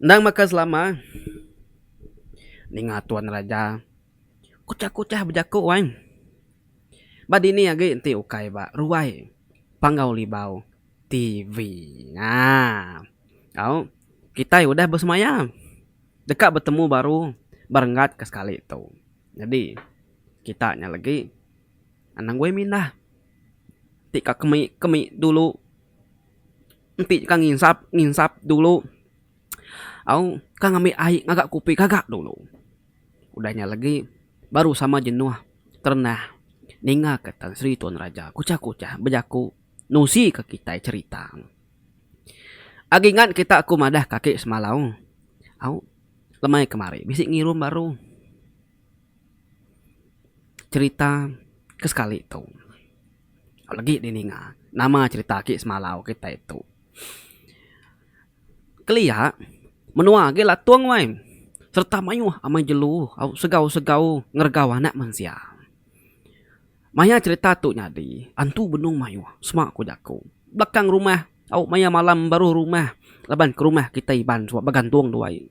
Endang baka selama, ninga tuan raja kuchah-kuchah bejaku ai. Ba dini agi enti ukai ba ruai Panggau Libau TV. Haa. Au, kitai udah besemaya deka betemu baru ba renggat ke sekali tu. Nyadi, kita nya legi. Anang guai mindah ti ka kemi kemi dulu enti ka nginsap nginsap dulu au ka ngambi ai ngaga kopi gaga dulu udah nya lagi baru sama jenuh terendah ninga ka Tan Sri Tun Raja kuchah kuchah bejaku nusi ka kitai cherita agi ngan kita ku madah ka ake semalau au lemai kemari bisi ngirum baru. Cerita ke sekali tu legi di ninga nama cerita ake semalau kitai tu kelia menua agi latung wai serta mayuh amai jelu segau segau ngeregau anak mensia. Maya cerita tu nyadi antu benung mayuh sema ku jaku belakang rumah au maya malam baruh rumah laban ke rumah kitai iban suba begantung dua aie.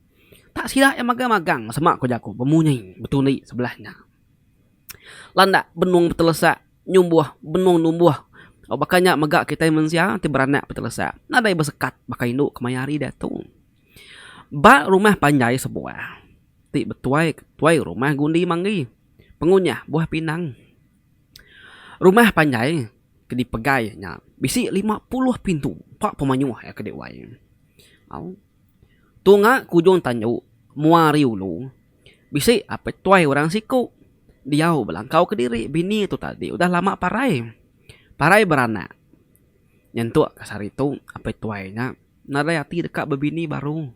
Tak sida iya magang magang sema ko jaku bemunyi betundi sebelah nya. Landak benung betelesak nyumbuh benung numbuh baka nya mega kitai mensia ti beranak betelesak nadai besekat baka indu kemaya hari diatu. Ba rumah panjai sebuah ti betuai tuai rumah gundi manggi pengunyah buah pinang. Rumah panjai ke dipegai nya bisi lima puluh pintu empa pemayuh iya ke diuai. Au. Tunga kujung tanju mua ari ulu. Bisi apai tuai orang siku. Diau belangkau kediri bini tu tadi udah lama parai. Parai beranak. Nyentuk kes hari tu apai tuai nya nadai ati deka bebini baru.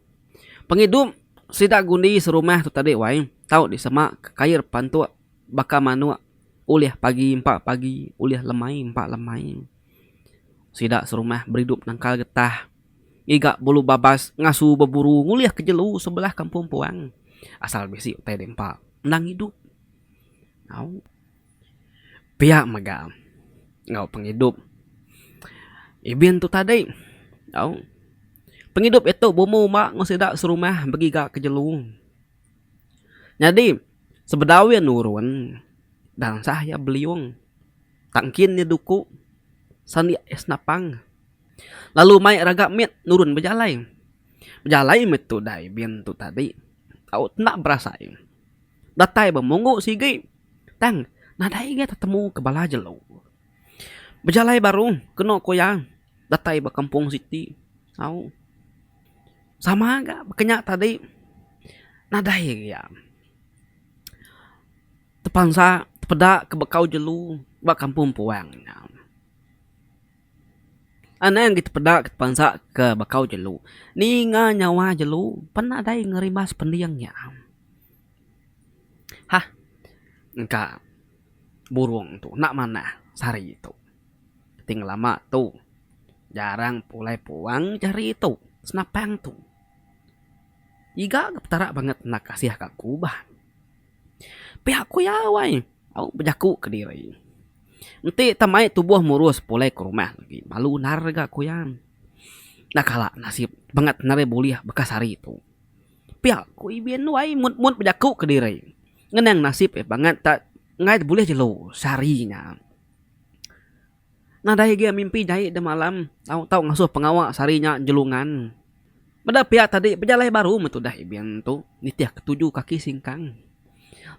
Pengidup sida gundi serumah tu tadi wai tau disema ke kair pantuk baka manuk ulih pagi empa pagi ulih lemai empa lemai. Sida serumah beridup nangkal getah. Ngiga bulu babas ngasu beburu ngulih ke jelu sebelah kampung puang. Asal bisi utai dempa endang idup. Au. Pia mega enggau pengidup Ibin tu tadi. Au. Pengidup iya tu bumbu uma enggau sida serumah begiga ke jelu. Nyadi sebedau iya nurun dansah iya beliung. Tang kin iya duku sandi iya senapang. Lalu mai raga mit nurun bejalai. Bejalai meh tudai bin tu tadi. Tau enda berasai. Datai bemunggu sigi. Tang nadai agi tetemu ke bala jelu. Bejalai baru kenu ku iya datai ba kampung siti. Au sama ga bekenya tadi nadai agi iya tepansa tepeda ke bekau jelu ba kampung puang nya. Anang kita peda kita bansa ke bakau jelu ninga nyawa jelu pan nadai nerima sepending nya am hah engka burung tu enda manah ti hari tu ti ngelama tu jarang pulai puang ti hari tu senapang tu iga petara banget nanda kasih ka aku bah. Pia ku iya wai, au bejaku kediri. Enti tau mai tubuh murus pulai ke rumah agi malu nar ga ku iya. Enda kala nasib bangat narai bulih bekas hari tu. Pia ku Ibin wai mut mut bejaku kediri. Ngenang nasib iya bangat tak nengah bulih jelu sehari nya. Nadai agi mimpi jai da malam tau tau ngasuh pengawa sehari nya Jelungan. Meda pia tadi bejalai baru meh tudah Ibin tu nitih ke tuju kaki singkang.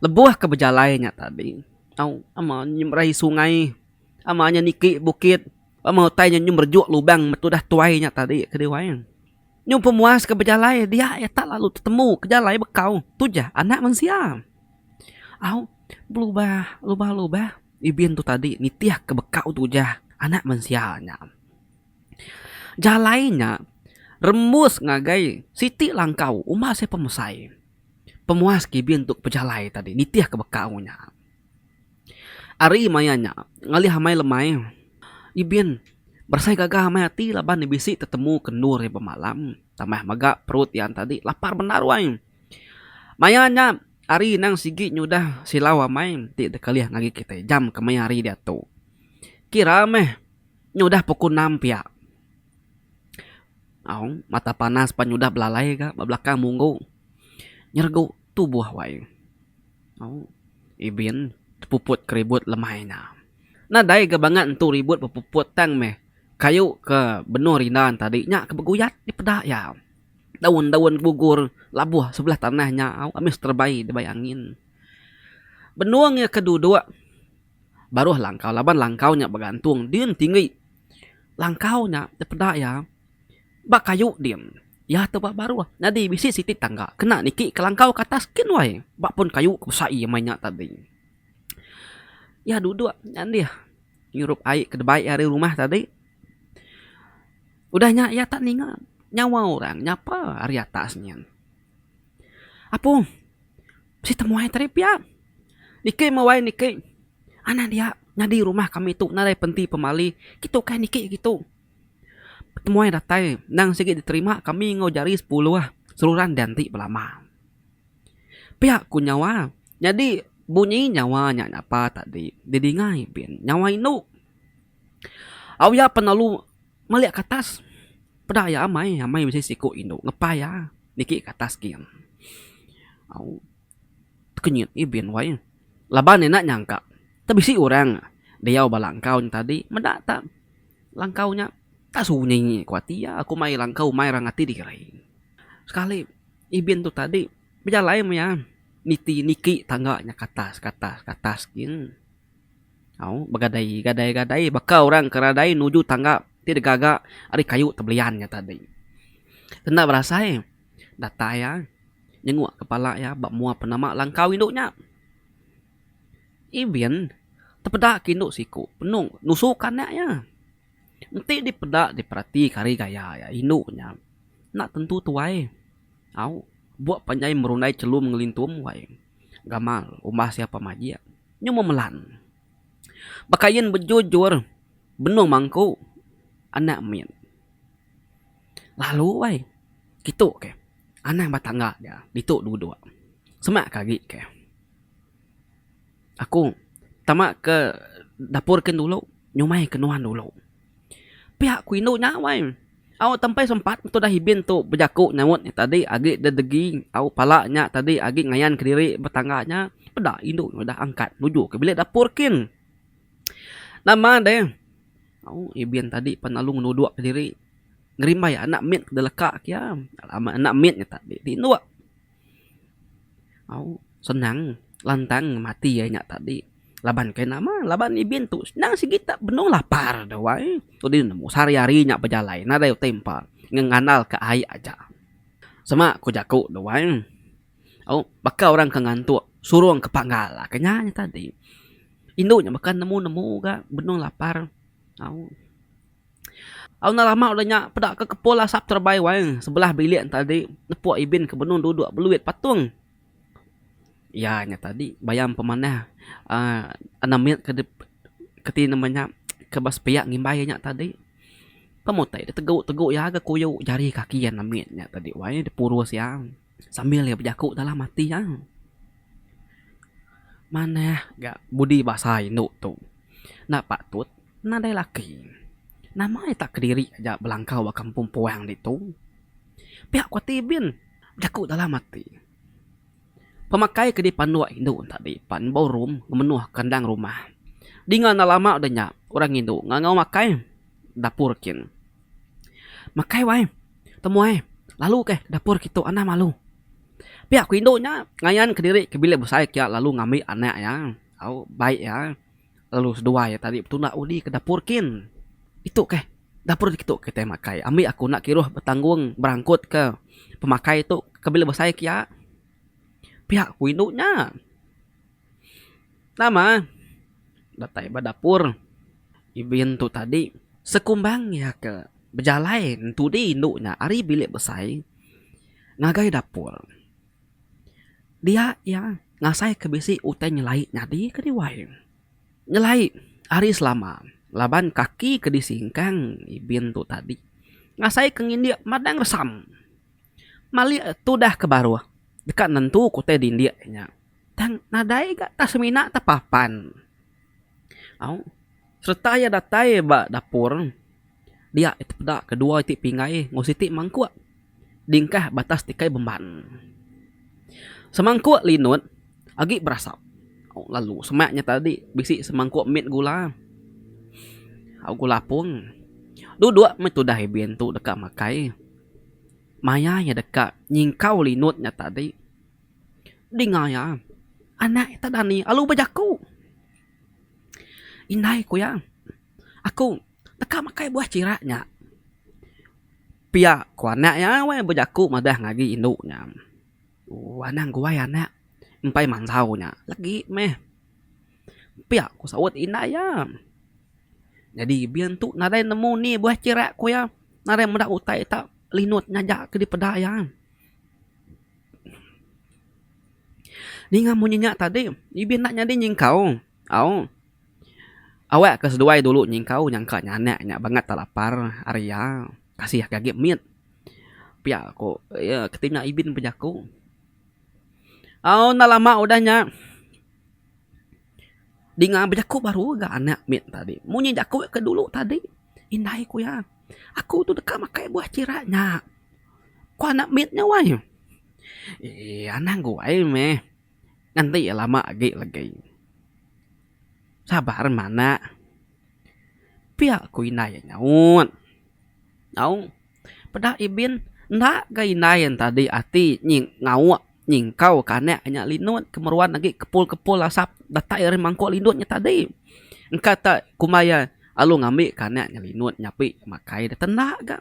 Lebuh ke bejalai nya tadi tau ama nyemrai sungai ama inya niki bukit ama utai inya nyemerejuk lubang meh tudah tuai nya tadi ke diwai. Nyu pemuas ke bejalai dia iya tak lalu tetemu ke jalai bekau tujah anak mensia. Au belubah lubah lubah. Ibin tu tadi nitihka bekau tu ujah Anak Mensia nya. Jalai nya rembus ngagai siti langkau uma sai pemesai. Pemuas ke ibin tu pejalai tadi nitihka bekau nya. Ari maya nya ngalih amai lemai ibin berasai gaga amai ati laban ne bisi tetemu ke endur iya bemalam tambah mega perut iya tadi lapar bendar wai. Maya nya hari endang sigi nyudah silau amai ti dikelih ngagai kitai jam kemaya hari diatu kira meh nyudah pukul enam pia au mata panas pan nyudah belalai ga ba belakang munggu nyergu tubuh wai au ibin puput ke ribut lemai nya. Nadai ga bangat entu ribut bepuput tang meh kayu ke benung rindang tadi nya ke beguyat dipeda iya. Daun-daun gugur labuh sebelah tanah nya amai seterebai dibai angin. Benung iya ke duduk baruh langkau laban langkau nya begantung din tinggi. Langkau nya ti peda iya ba kayu din iya tu ba baruh nyadi bisi siti tangga kena niki ka langkau ka atas kin wai ba pun kayu ke besai meh nya tadi. Iya duduk nya dih ngirup ai ke dibai ari rumah tadi. Udah nya iya tak ninga nyawa orang nyapa ari atas nyin. Apung, bisi temuai tadi pia. Niki meh wai niki. Anak dia nyadi rumah kami tu nadai penti pemali. Kitu kai niki kitu. Temuai datai endang sigi diterima kami enggau jari sepuluh seruran dianti belama. Pia ku nyawa. Nyadi bunyi nyawa nya nyapa tadi didinga Ipin. Nyawa indu. Au iya penalu meli ke atas peda iya amai amai bisi siku indu ngepai iya niki ke atas gin au tekenyit agi bin wai laban iya enda nyangka tau bisi orang diau ba langkau nya tadi meda ta langkau nya enda sunyi ko ati iya ko mai langkau mai orang ati dikeri sekali ibin tu tadi bejalai maya niti niki tangga nya ke atas ke atas ke atas gin. Au, begadai, gadai, gadai baka orang ke radai nuju tangga ti digaga ari kayu tebelian nya tadi. Enda berasai datai iya nyenguk kepala iya ba mua penama langkau indu nya. Evin tepeda ke indu siku penung nusu ke anak iya. Enti dipeda diperati ke ari gaya iya indu nya enda tentu tuai. Au, buk panjai merundai chelum ngelintum wai. Gamal, umbah sia pa majik. Nyu memelan. Bekain bejujur benung mangku anak mit. Lalu ai kitu ke anang ba tangga dia ditu duduk. Semak ke agi ke. Aku tama ke dapur kin dulu nyumai ke nuan dulu. Pia ku indu nya wai. Au tempai sempat tudah Ibin tu bejaku nyaut nya tadi agi deh degi au pala nya tadi agi ngayan kediri ba tangga nya peda indu nya udah angkat nuju ke bilik dapur kin. Nama deh au Ibin tadi pan lalu ngenuduk kediri ngerimbai anak mit ke leka ke iya. Amat anak mit nya tadi ti indu. Au senang lantang mati iya nya tadi laban kai nama laban ibin tu senang sigi ta benung lapar da wai dudi nemu sehari hari nya bejalai nadai utai empa ngin ngandal ka ai aja sema ku jaku da wai au baka orang ke ngantuk surung ke panggal ka nya tadi indu nya baka nemu nemu ga benung lapar au. Au enda lama udah nya peda ke kepul asap terebai wai sebelah bilik enta agi nepuk Ibin ke benung duduk beluit patung. Iya nya tadi bayam pemanah aaa enam mit ke keti nama nya ke ba sepiak ngimbai iya nya tadi. Pemutih diteguteguk iya ke kuyu jari kaki iya enam mit nya tadi wai dipurus iya. Sambil iya bejaku dalam ati iya, manah ga budi basa indu tu enda patut nadai laki. Nama iya tak kediri aja belangkau ba kampung puang ditu. Pia ku ati Ibin bejaku dalam ati. Pemakai ke dipanduk indu tadi pan ballroom memenuh kandang rumah. Dinga enda lama udah nya orang indu ngangau makai dapur kin. Makai wai. Temuai, lalu keh kedapur kitu anah malu. Pia ku indu nya ngayan kediri ke bilik besai kia lalu ngambi anak iya au baik iya lalu seduai iya tadi betunda udi kedapur kin. Itu keh dapur kitu kitai makai ambi aku enda kiruh betanggung berangkut ke pemakai tu ke bilik besai kia. Pia ku indu nya. Nama datai ba dapur Ibin tu tadi sekumbang iya ke bejalai entudi indu nya ari bilik besai ngagai dapur. Dia iya ngasai ke bisi utai nyelai nyadi ke diwai. Nyelai ari selama laban kaki ke disingkang Ibin tu tadi ngasai ke ngindik madang resam. Malik tudah ke baruh deka nentu ke utai dindik nya. Tang nadai ga ka semina ta papan. Au sereta iya datai ba dapur dia iti peda ke dua iti pingai enggau siti mangkuk dingkah batas tikai bemban. Semangkuk linut agi berasap au lalu semak nya tadi bisi semangkuk mit gula au gula apung. Duduk meh tudah Ibin tu deka makai maya iya deka nyingkau linut nya tadi. Dinga iya, anak ita dani alu bejaku. Indai ku iya, aku deka makai buah chira nya. Pia ku anak iya weh bejaku madah ngagai agi indu nya. Ooh anang guai anak empai manjau nya legi meh. Pia ku saut indai iya. Nyadi bin tu nadai nemu ni buah chira ku iya. Nadai meda utai ita linut ngaja ke dipeda iya. Ninga munyi nya tadi ibi enda nyadi nyingkau au awak ke seduai dulu nyingkau nyangka nya anak nya bangat te lapar ari iya kasih ke agi mit pia ku iya keti nya ibi ne bejaku au enda lama udah nya dinga bejaku baru ga anak mit tadi munyi jaku ke dulu tadi indai ku iya aku tu deka makai buah chira nya. Ku anak mit nya wai. Eee anang guai meh nganti iya lama agi legi. Sabar meh anak. Pia ku indai iya nyaut. Au peda ibin enda ga indai iya tadi ati nyi ngauk nyingkau ka anak nya linut ke meruan agi kepul kepul asap datai ari mangkuk linut nya tadi. Engka te kuma iya alu ngambi ka anak nya linut nyapi makai deh te enda ga.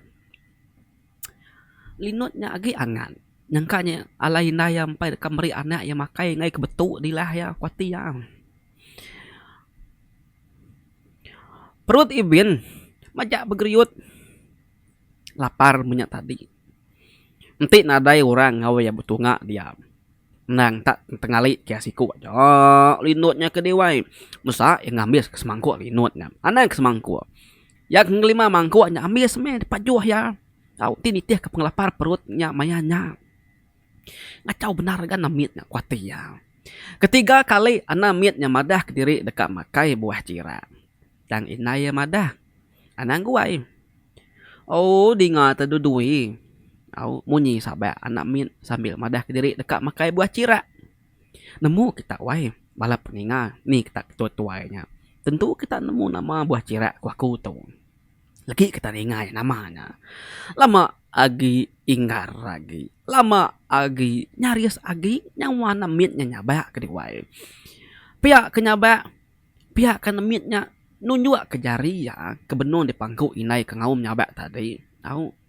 Linut nya agi angan nyangka nya alai indai iya empai deka meri anak iya makai ngaih ke betu dilah iya ku ati iya. Perut Ibin majak begeriut lapar menya tadi enti nadai orang ngawa iya betunga diam endang tak tengali kiah siku aja linut nya ke diwai mesa iya ngambis ke semangkuk linut nya anang ke semangkuk. Iya ke ngelima mangkuk nya ambis meh dipajuh iya tau ti nitihka pengelapar perut nya maya nya. Ngachau bendar ga anak mit nya ku ati iya. Ketiga kali anak mit nya madah kediri deka makai buah chira. Tang indai iya madah, Anak angguai. Ooh dinga te dulu dui. Au munyi sabak anak mit sambil madah kediri deka makai buah chira. Nemu kita wai bala peninga ni kita ke tuai-tuai nya. Tentu kita nemu nama buah chirek ku aku tu. Legi kita ningai nama nya. Lama agi inggar agi. Lama agi nyaris agi nyawa ne mit nya nyabak ke diwai. Pia ke nyabak pia ke nemit nya nunjukka jari iya ke benung dipangku indai ke ngaum nyabak tadi. Au.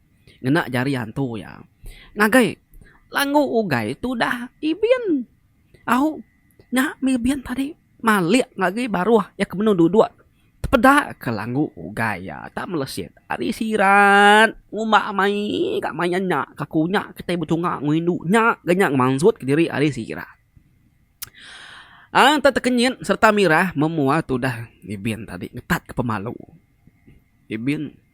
Ngena jari antu iya. Ngagai. Langgu ugai tudah ibin. Au. Nya mih ibin tadi. Malik agi baruh iya ke menu duduk. Tepeda ke langgu ugai iya tak melesit. Ari sirat. Ngumba mai ka main nya. Aku nya kitai bechunga enggau indu nya ga nya ngemansut ke diri ari sirat. Ang enta tekenyit serta mirah memuar tudah ibin tadi ngetat ke pemalu. Ibin.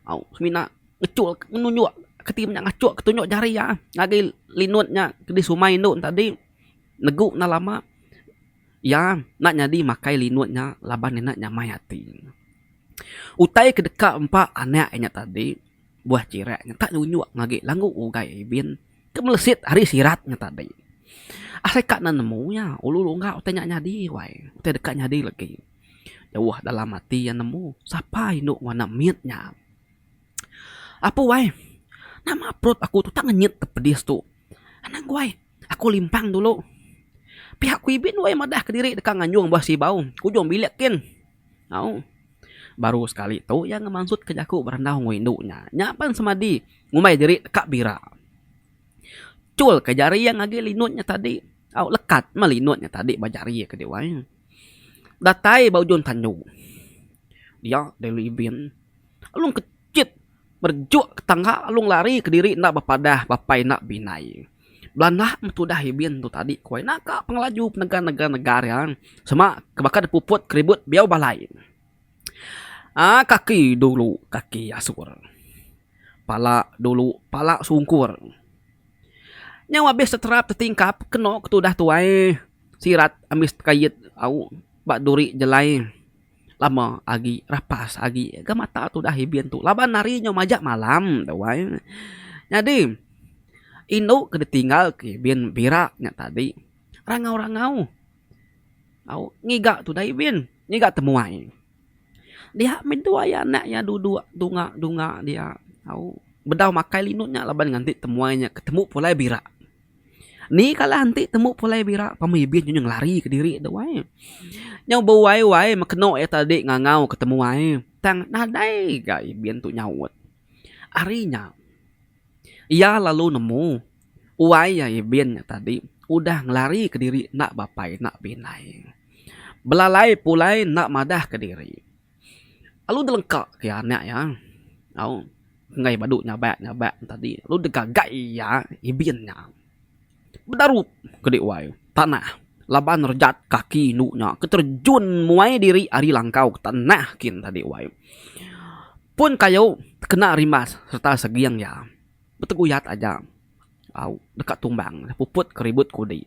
Au semina ngechul ngenunjuk keti menya ngachuk ke tunjuk jari iya ngagai linut nya ke disumai indu ne tadi negu enda lama iya enda nyadi makai linut nya laban iya enda nyamai ati. Utai ke deka empa anak inya tadi buah chirek nya enta nunjuk ngagai langgu ugai Aibin ke melesit ari sirat nya tadi. Asai ka ne nemu iya ulu longga utai nya nyadi wai utai deka nyadi legi. Jauh dalam ati iya nemu sapa indu ngena mit nya. Apu ai, nama perut aku tu tak ngenyit ke pedis tu. Anang angu ai, aku limpang dulu. Pihak ku Ibin weh madah kediri deka nganjung ba Sibau, ke ujung bilik kin. Au. Baru sekali tu iya ngemansutka jaku berandau enggau indu nya. Nya pan semadi ngumbai diri deka bira. Chulka jari iya ngagai linut nya tadi. Au, lekat meh linut nya tadi ba jari iya kadi wai. datai ba ujung tandu dia daily event lalu ke chit berejuk ke tangga lalu lari kediri enda bepadah bebai enda beinai belanda meh tudah event tu tadi ku ai naka pengelaju penega nega nega dia sema ke baka depuput ke ribut biyau balai. Haa kaki dulu kaki asur. Pala dulu pala sungkur. Nyau abis teterap tetingkap keno ke tudah tuai sirat ambis tekait au ba duri jelai lama agi rapas agi ga mata tudah ibin tu laban hari nyau majak malam tuai. Nyadi indu ke ditinggal ke ibin bira nya tadi rangau rangau. Au ngiga tu dai bin ngiga temuai dia meh tu aya anak iya duduk dunga dunga dia au bedau makai linut nya laban ngan ti temuai nya ketemu pulai bira ni kala enti temu pulai bira pemai bin inya ngelari kediri tu ai nyau bewai wai mekeno iya tadi ngangau ke temuai tang nadai ga bin tu nyaut ari nya. Iya lalu nemu uai iya Ibin nya tadi udah ngelari ke diri enda bapai enda bindai. Belalai pulai enda madah ke diri. Lalu delengka ke iya anak iya au enggai badu nyabak nyabak nya tadi lalu degagai iya Ibin nya bedarup kedi uai tanah laban rejat kaki indu nya ke terjun muai diri ari langkau ke tanah kin tadi uai. Pun kayu kena rimas sereta seging iya beteguyat aja au deka tumbang puput ke ribut kudi.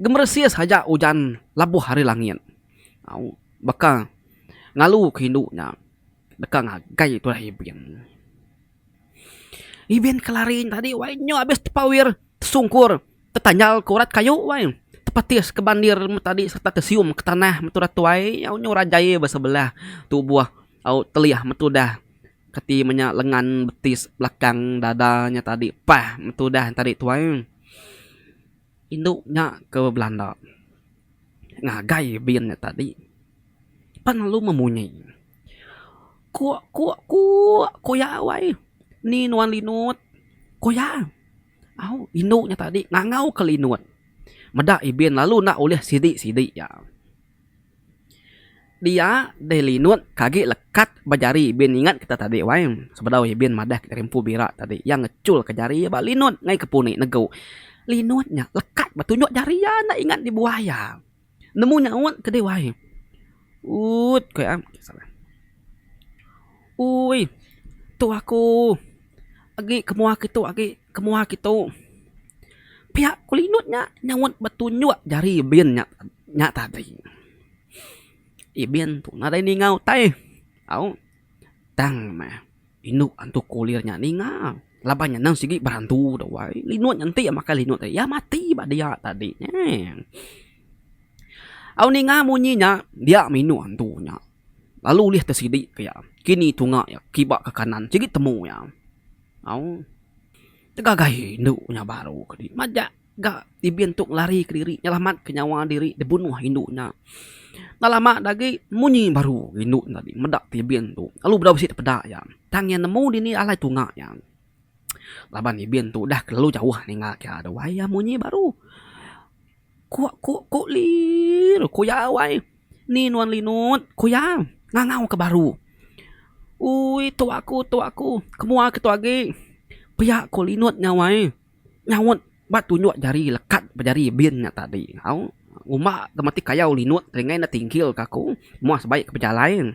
Gemeresis aja ujan labuh ari langit au baka ngalu ke indu nya deka ngagai tuai ibin. Ibin kelari tadi wai nyau abis tepawer tesungkur tetanyal ke urat kayu wai tepatis ke bandir meh tadi serta tesium ke tanah metu udah tuai nyau nyau rajai ba sebelah tubuh au telih metu dah keti menya lengan betis belakang dada nya tadi pah metu dah tadi tuai. Indu nya ke belanda ngagai bin nya tadi pan lalu memunyi kuk kuk kuk ko iya wai ni nuan linut ko iya au indu nya tadi ngangau ke linut meda ibin lalu enda ulih sidi sidi iya. Dia deh linut ke agi lekat ba jari bin ingat kita tadi wai. Sebedau iya bin madah ke jari empu bira tadi iya ngechul ke jari iya ba linut ngai ke puni negu. Linut nya lekat ba tunjuk jari iya enda ingat dibuah iya. Nemu nyaut ke dih wai. Uut ku iya. Uii tu aku agi kemuah aku agi. Kemuah kitu, piak kulinut nya nyaut ba tunjuk jari bin nya nya tadi. Ih bin tu nadai ninga utai au tang meh indu antu kulir nya ninga laban nya nang sigi berantu tu ai. Linut nya enti iya makai linut tadi iya mati ba dia tadi eeh. Au ninga munyi nya dia meh indu antu nya lalu ulih te sidi ke iya kini tunga iya kiba ke kanan sigi temu iya. Au. Tegagai indu nya baru ke dih. Majak ga Ibin tu ngelari kediri nyelamat ke nyawa diri dibunuh indu nya. Enda lama da agi munyi baru indu nya tadi meda ti Ibin tu lalu bedau bisi tepeda iya. Tang iya nemu dini alai tunga iya. Laban Ibin tu udah kelalu jauh ninga ke iya tu. Ai iya munyi baru. Kuk kuk kuk lir. Kuyau ai. Ni nuan Linut. Kuyau. Ngangau ke baru. Ui tua aku tua aku. Kemua ke tu agi. Pia ko Linut nyau ai. Nyaut ba tunjuk jari lekat ba jari bin nya tadi. Au. Ngumba ke mati kayau Linut ringai ne tingkil ke aku. Moh sebaik ke bejalai.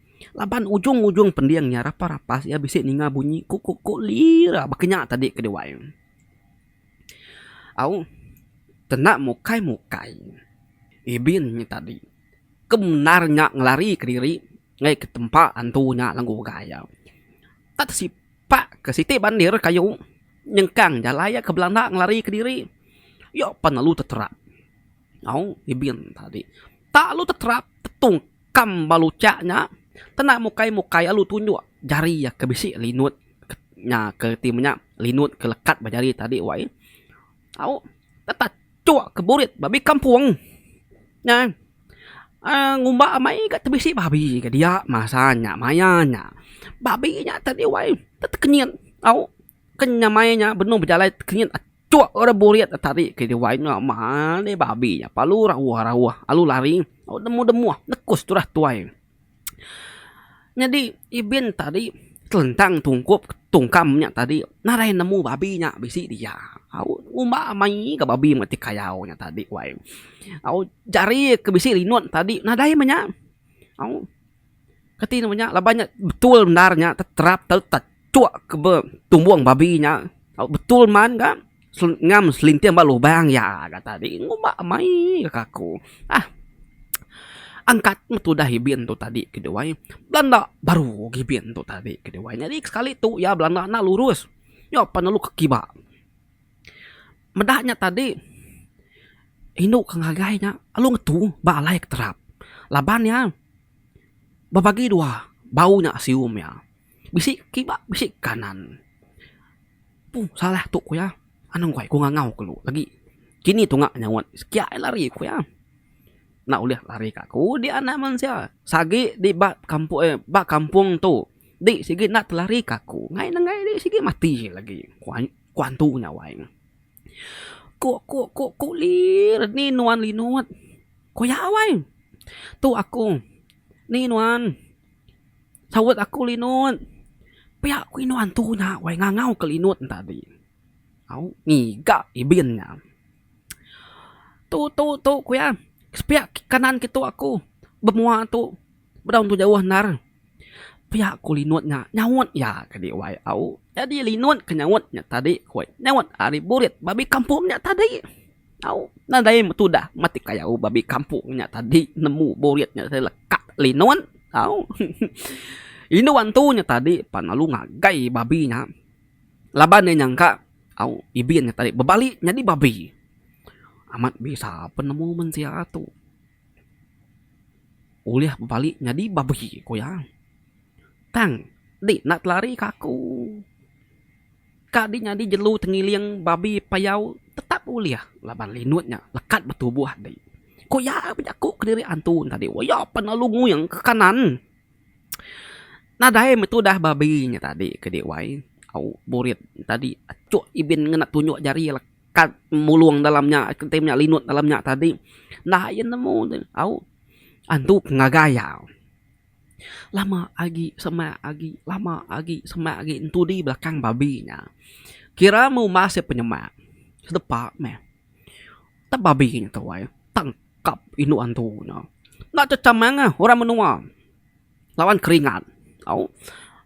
Laban ujung-ujung pending nya rapas-rapas iya bisi ninga bunyi kuk-kuk-kuk lira baka nya tadi ke diwai. Au tenda mukai-mukai ibin nya tadi ke bendar nya ngelari kediri ngaih ke tempa antu nya lenggu ugai iya. Ka tesipak ke siti bandir kayu nyengkang jalai iya ke belanda ngelari kediri iya pan lalu teterap. Au ibin tadi tak lalu teterap tetungka. Kam baluchak nya kena mukai mukai alu tunjuk jari iya ke bisi linut nya ke reti menya linut ke lekat ba jari tadi wai au tetap chuk ke burit babi kampung nya uhh ngumba amai ga tebisi babi ga dia masa nya maya nya babi nya tadi wai tetekenyit au. Ke nyamai nya benung bejalai tekenyit achok ora burit da tarik ke diri wai nya male babi nya palu rauh rauh alu lari au demuh demuh nekus turah tuai. Nyadi ibin tadi telentang tungkup tungkam nya tadi narai nemu babi nya bisi dia au ngumba mei ga babi mati kayau nya tadi wai au jari ke bisi rinut tadi nadai menya au. Kati nuh nya laban nya betul bendar nya terap tau tachok ke be tumbong babi nya tau betul man ga ngam selinting ba lubang iya ga tadi ngumba mei ga ka aku ah angkat meh tudah ibin tu tadi ke dua ai belanda baru ga ibin tu tadi ke dua ai nyadi sekali tu iya belanda enda lurus nyop pan lalu ke kiba. Meda nya tadi indu ke ngagai nya lalu ngetu ba alai ke terap laban iya bebagi dua bau nya sium iya bisi ke kiba bisi ke kanan pun salah tu ku iya anu ngoi ku ngangau ku lu agi kini tunga nyauan sekiak aja lari ku iya enda ulih lari ka aku udi anak mensia sagi di ba kampung eh ba kampung tu di sigi enda telari ka aku ngai ne ngai di sigi mati lagi ku. Ku antu nya awai ne. Kuk kuk kuk kuk lir ni nuan linut. Ku iya awai. Tu aku. Ni nuan. Saut aku linut. Pia ku indu antu nya awai ngangau ke linut ne tadi. Au ngiga ibin nya. Tu tu tu ku iya. Sepia kanan kitu aku bemua tu. Bedau tu jauh endar. Pia ku Linut nya nyaut iya ke di wai au. Nyadi Linut ke nyaut nya tadi ku iya. Nyaut ari burit babi kampung nya tadi. Au, nadai betudah matik kayau babi kampung nya tadi nemu burit nya tadi lekak Linut. Au, indu antu nya tadi pan lalu ngagai babi nya laban iya nyangka, au, ibin nya tadi bebali nyadi babi. Amat bisa penemu mensia tu. Ulih bebali nyadi babi ku iya. Tang di enda telari ka aku. Ka di nyadi jelu tengiling babi payau tetap ulih laban linut nya lekat betubuh adi. Ku iya bejaku kediri antu ne tadi. Iya pan lalu nguing ke kanan. Nadai meh tudah babi nya tadi ke dii wai. Au burit tadi achok ibin ngena tunjuk jari. kad mulung dalam nya kitai menya linut dalam nya tadi enda ayen nemu au antu ngagai iya lama agi sema agi lama agi sema agi entu di belakang babi nya kira meh uma seh penyema sedepa meh tang babi nya tuai tangkap indu antu nya enda checham manah orang menua lawan keringat au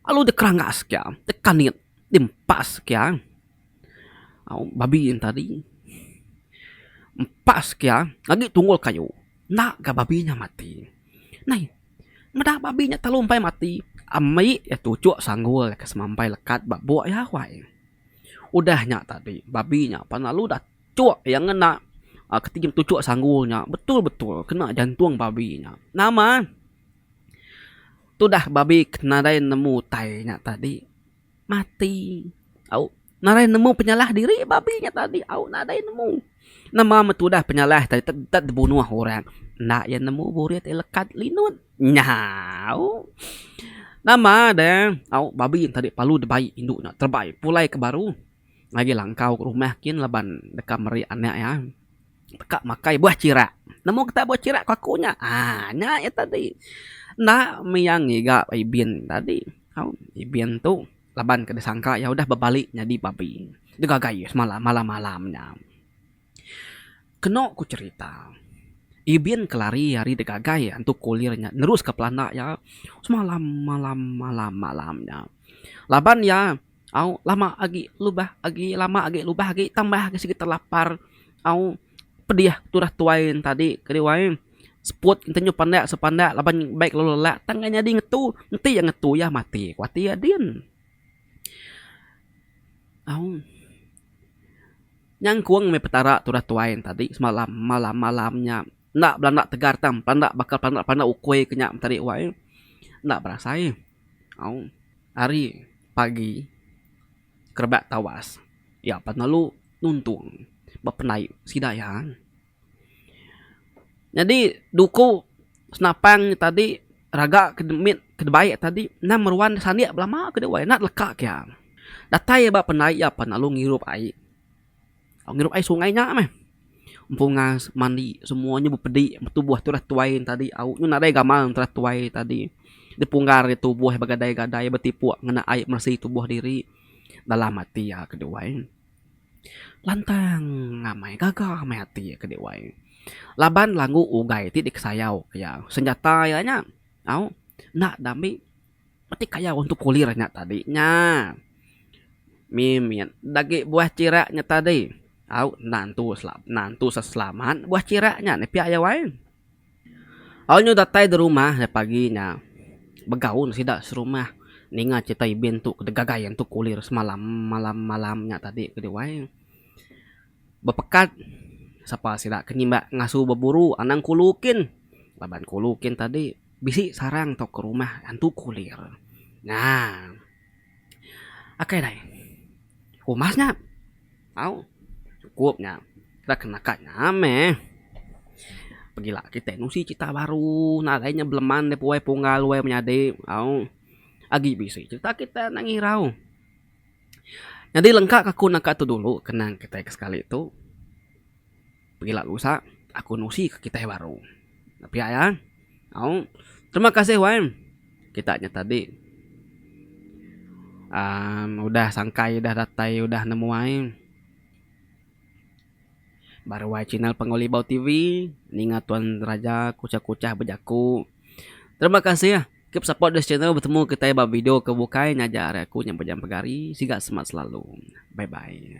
lalu dikerangas ka dekanit dimpas ka. Babi nya tadi empa sekia agi tunggul kayu enda ga babi nya mati. Nai meda babi nya telalu empai mati ami iya tuchok sanggul iya ke semampai lekat ba buk iya awai. Udah nya tadi babi nya pan lalu dachok iya ngena ketegal tuchok sanggul nya betul betul kena jantung babi nya. Nama tudah babi ke nadai nemu utai nya tadi. Mati. Au nadai nemu penyalah diri babi nya tadi. Au nadai nemu. Nama meh tudah penyalah tadi tet dibunuh orang. Enda iya nemu burit iya lekat linut. Nya au. Nama deh. Au babi nya tadi palu dibai indu nya terebai pulai ke baru. Lagi langkau ke rumah kin laban deka meri anak iya. Teka makai buah chirak. Nemu kitai buah chirak paku nya. Aaa nya iya tadi. Enda mia ngiga Ibin tadi. Au Ibin tu laban ke disangka iya udah bebali nyadi babi. Digagai iya semalam malam-malam nya. Kenu ku cherita, Ibin ke lari ari digagai iya antu kulir nya neruska pelanda iya semalam malam-malam malam nya. Laban iya. au lama agi lubah agi lama agi lubah agi tambah agi sigi telapar au pedih turah tuai tadi kadi wai seput enti nyau panda suk panda laban baik lalu lelak tang ngan nyadi ngetu enti iya ngetu iya mati ku ati iya din au nyangkong meh petara turah tuai tadi semalam malam malam nya enda belanda tegar tang belanda bakal belanda ukoi ke nya tadi wai enda berasai. Au ari pagi kerebak tawas iya pan lalu nuntung ba pendai sida iya. Nyadi duku senapang nya tadi raga ke mit ke debai tadi endang meruan sanik belama ke dewai enda leka ke iya. Datai iya ba pendai iya pan lalu ngirup ai. Ngirup ai sungai nya meh empungas mandi semua nya bepedi betubuh turah tuai tadi au nyu nadai gamal turah tuai tadi dipunggar ari tubuh begadai-gadai betipuk ngena ai meresi tubuh diri dalam ati iya ke diwai lantang amai gaga meh ati iya ke diwai laban langgu ugai ti dikesayau ke iya senjata iya nya au enda dambe Peti kaya orang tu kulir nya tadi nya. Mimit dagi buah chira nya tadi. Au enda entu entu sa selamat buah chira nya ni pia iya wai. Au nyu datai di rumah ari pagi nya begaun sida serumah ninga crita Ibin tu ke digagai entu kulir semalam malam malam nya tadi kadi wai. Bepekat, sapa sida ke nyimbak ngasu beburu anang kulu kin, laban kulu kin tadi bisi sarang tauka rumah antu kulir. Nya. Akai dai. Umas nya. Au. Cukup nya. Kita ke naka nya meh. Pegila kitai nusi crita baru nadai nya beleman daripada wayah punggal wayah menyadi. Au. Agi bisi crita kitai anak ngirau. Nyadi lengka ke aku naka tu dulu kenang kitai ke sekali tu pengila lusa aku nusi ke kitai baru. Pia iya au terima kasih wai kita nya tadi aaa udah sangkai udah datai udah nemuai. Baruai channel Pangolibau TV ninga tuan raja kuchah-kuchah bejaku. Terima kasih keep support this channel betemu kitai ba video ke bukai ngajar ari aku nya Bujang Pegari siga semak selalu. Bye bye.